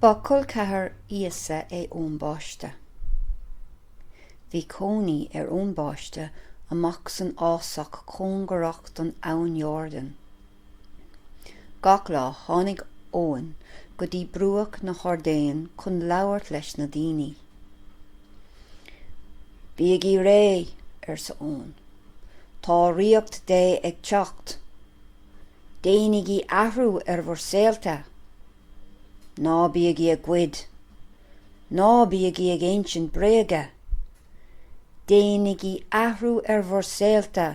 Ba colceathar Íosa é Eoin Báiste. Bhí cónaí ar Eoin Báiste amuigh san fhásach cóngarach don Abhainn Jordan Gach lá, tháinig Eoin go dtí bruach na hIordáine chun labhairt leis na daoine. Bígí réidh, arsa Eoin. Tá ríocht Dé ag teacht. Déanaigí athrú ar bhur saolta. Ná bígí ag goid. Ná bígí ag insint bréige. Déanaigí athrú ar bhur saolta.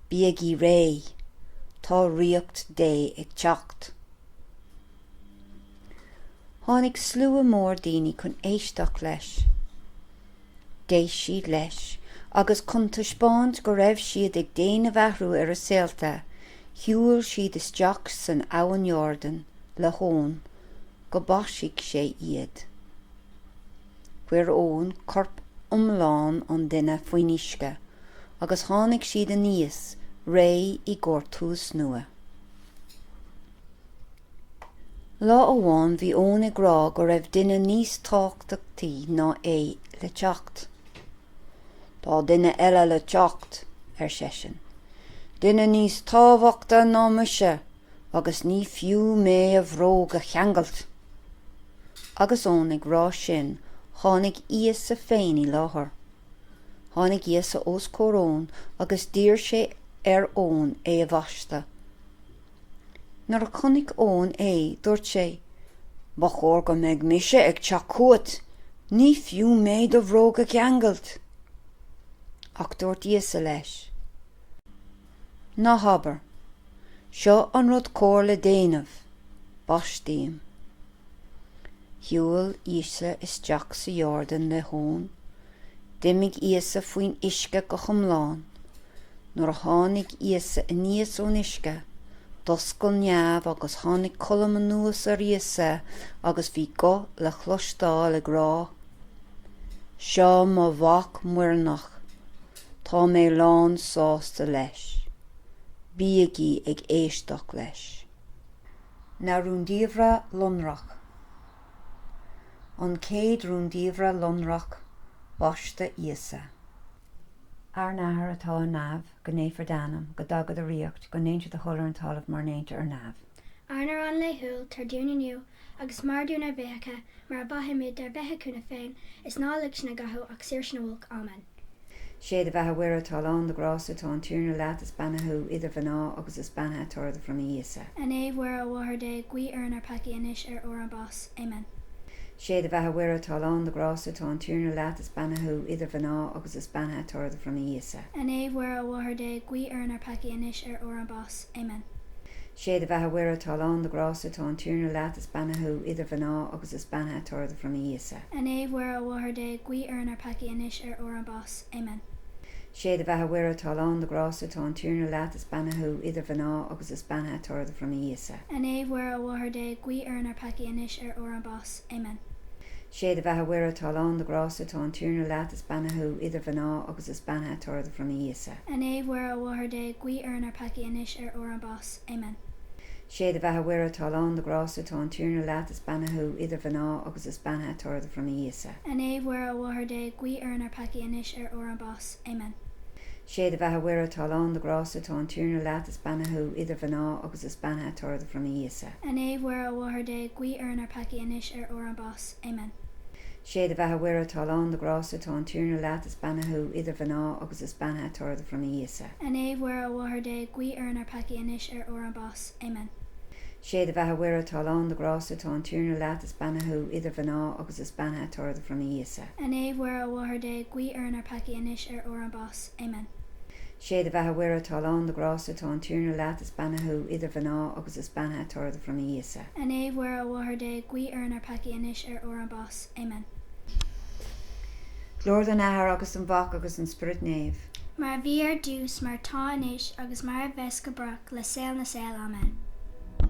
Bígí réidh, tá Ríocht Dé ag teacht! Tháinig slua mór daoine chun éisteacht leis. D'éist siad leis agus chun taispeáint go raibh siad ag déanamh athrú ar a saolta, shiúil siad isteach san Abhainn Iordan le hEoin go mbaistfeadh sé iad. Chuir Eoin corp iomlán an duine faoin uisce agus tháinig siad aníos réidh i gcomhair tús nua. Lá amháin bhí Eoin ag rá go raibh duine níos tábhtachtaí ná é le teacht. Tá duine eile le teacht, ar seisean. Duine níos tábhachtaí ná mise! agus ní fiú mé a bhróga a cheangailt! Agus Eoin ag rá sin tháinig Íosa féin i láthair. Tháinig Íosa os comhair Eoin agus d'iarr sé ar Eoin é a bhaisteadh. Nuair a chonaic Eoin é, dúirt sé, Ba chóir go mbeidh mise ag teacht chugat, ní fiú mé do bhróga a cheangailt! Ach dúirt Íosa leis. Ná habair, seo an rud cóir le déanamh! Baist mé. Shiúil Íosa isteach sa Iordan le hEoin. D'imigh Íosa faoin uisce go hiomlán. Nuair a tháinig Íosa aníos ón uisce, d'oscail neamh agus tháinig colm anuas ar Íosa agus bhí guth le chloisteáil ag rá, Seo mo Mhac muirneach. Tá mé lán sásta leis. Bígí ag éisteacht leis. Na Rúndiamhra Lonrach. An Chéad Rúndiamhra Lonrach Baisteadh Íosa. Ár nAthair atá ar neamh, go naofar d'Ainm, go dtaga do Ríocht, go ndéantar do thoil ar an talamh mar a ndéantar ar neamh. Ár n-arán laethúil tabhair dúinn inniu agus maith dúinn ár bhfiacha mar a mhaithimid dár bhféichiúna féin is ná lig sinn i gcathú ach saor sinn ó olc. Amen. Sé do bheatha Mhuire atá lán de ghrásta tá an Tiarna leat is beannaithe thú idir mhná agus is beannaithe toradh do bhroinne Íosa. A Naomh Mhuire a Mháthair Dé guí orainn ár peacaí anois ar uair ár mbás. Amen. Sé do bheatha Mhuire atá lán de ghrásta tá an Tiarna leat is beannaithe thú idir mhná agus is beannaithe toradh do bhroinne Íosa. A Naomh Mhuire a Mháthair Dé guí orainn ár peacaí anois ar uair ár mbás. Amen. Sé do bheatha Mhuire atá lán de ghrásta tá an Tiarna leat is beannaithe thú idir mhná agus is beannaithe toradh do bhroinne Íosa. A Naomh Mhuire a Mháthair Dé guí orainn ár peacaí anois ar uair ár mbás. Amen. Sé do bheatha Mhuire atá lán de ghrásta tá an Tiarna leat is beannaithe thú idir mhná agus is beannaithe toradh do bhroinne Íosa. A Naomh Mhuire a Mháthair Dé guí orainn ár peacaí anois ar uair ár mbás. Amen. Sé do bheatha Mhuire atá lán de ghrásta tá an Tiarna leat is beannaithe thú idir mhná agus is beannaithe toradh do bhroinne Íosa. A Naomh Mhuire a Mháthair Dé guí orainn ar peacaí anois ar uair an bás. Amen. Sé do bheatha Mhuire atá lán de grásta tá an Tiarna leat is beannaithe thú idir mhná agus is beannaithe toradh do bhroinne Íosa. A Naomh Mhuire a Mháthair Dé guí orainn ar peacaí anois ar uair an bás. Amen. Sé do bheatha Mhuire atá lán de grásta tá an Tiarna leat is beannaithe thú idir mhná agus is beannaithe toradh do bhroinne Íosa. A Naomh Mhuire a Mháthair Dé guí orainn ar peacaí anois ar uair an bás. Amen. Sé do bheatha Mhuire atá lán de ghrásta tá an Tiarna leat is beannaithe thú idir mhná agus is beannaithe toradh do bhroinne Íosa. A Naomh Mhuire a Mháthair Dé guí orainn ár peacaí anois ar uair ár mbás. Amen. Sé do bheatha Mhuire atá lán de ghrásta tá an Tiarna leat is beannaithe thú idir mhná agus is beannaithe toradh do bhroinne Íosa. A Naomh Mhuire a Mháthair Dé guí orainn ár peacaí anois ar uair ár mbás. Amen. Sé do bheatha Mhuire atá lán de ghrásta tá an Tiarna leat is beannaithe thú idir mhná agus is beannaithe toradh do bhroinne Íosa. A Naomh Mhuire a Mháthair Dé guí orainn ár peacaí anois ar uair ár mbás. Amen. Glóir don Athair agus don Mhac agus don Spiorad Naomh. Mar a bhí ar dtús mar atá anois agus mar a bheas go brách le saol na saol. Amen.